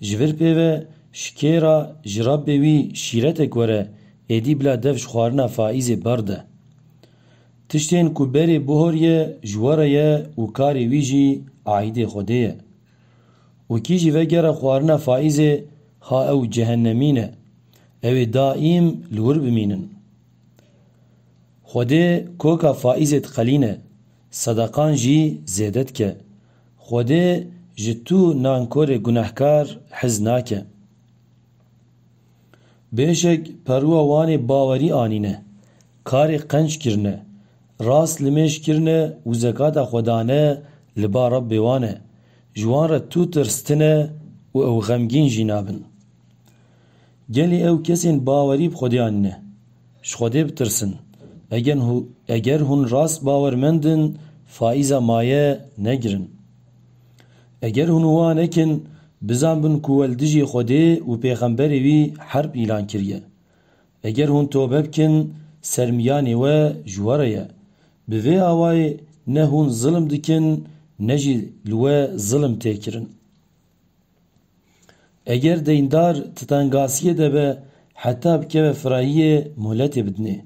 Ji vir pê ve şikêra jirabê wî şîretek were êdî bila dev ji xwarina Faîzê berde. Tiştên ku berê bihoriye ji we re ye û karê wî jî aîdê Xwedê ye. Û kî jî vegere xwarina Faîzê ha ew cehenemîn e, ew ê daîm li wir bimînin. Xwedê koka Faîzê diqelîne, sedeqan jî zêde dike. Xwedê ji tu nankorê gunehkar hez nake. Bêşek perûa wanê bawerî anîne, karê qenc kirine, rast limêj kirine û zekata xwe dane li ba Rabbê wan e, ji wan re tu tirs tine û ew xemgîn jî nabin. Gelê ew kesên bawerî bi Xwedeyan ne? Ji Xwedê bitirsin. Eger hûn rast bawermend in, faîza maye negirin. Eger hûn wiha nekin, bizan bin ku we li dijî Xwedê û pêxemberê wî herb îlan kiriye. Eger hûn tobe bikin, ser miyanê we ji we re ye. Bi vê awayê ne hûn zilim dikin ne jî li we zilim tê kirin. Eger deyndar titangasiyê de be heta bikeve firahiyê moletê bidinê.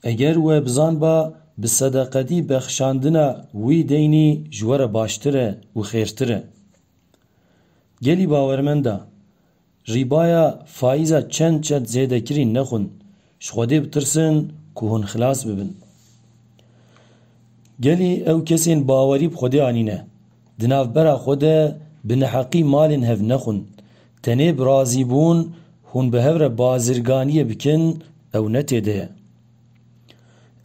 Eger we bizanba bi sedeqetî bexşandina wî deynî ji we re baştir e û xêrtir e. Gelî bawermend a. Rîbaya faiza çend çend zêde kirîn nexwin ji Xwedê bitirsin ku hûn xilas bibin. Gelî ew kesên bawerî bi Xwedê anîne, di navbera xwe de bi neheqî malên hev nexwin, tenê bi razîbûn hûn bi hev re bazirganiyê bikin ew ne tê de ye.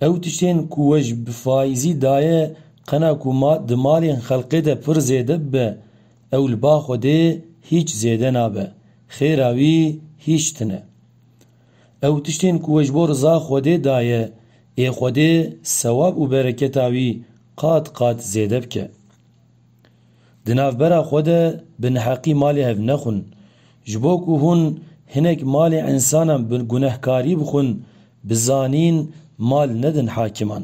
Ew tiştên ku we ji bi faizî daye qena ku di malên xelqê de pir zêde bibe Ew li ba Xwedê hîç zêde nabe, xêra wî hîç tune. Ew tiştên ku we ji bo riza Xwedê daye, ê Xwedê sewab û bereketa wî qat qat zêde bike. Di navbera xwe de bi neheqî malê hev nexwin. Ji bo ku hûn hinek malê însanan bi gunehkarî bixwin, bi zanîn mal nedin hakiman.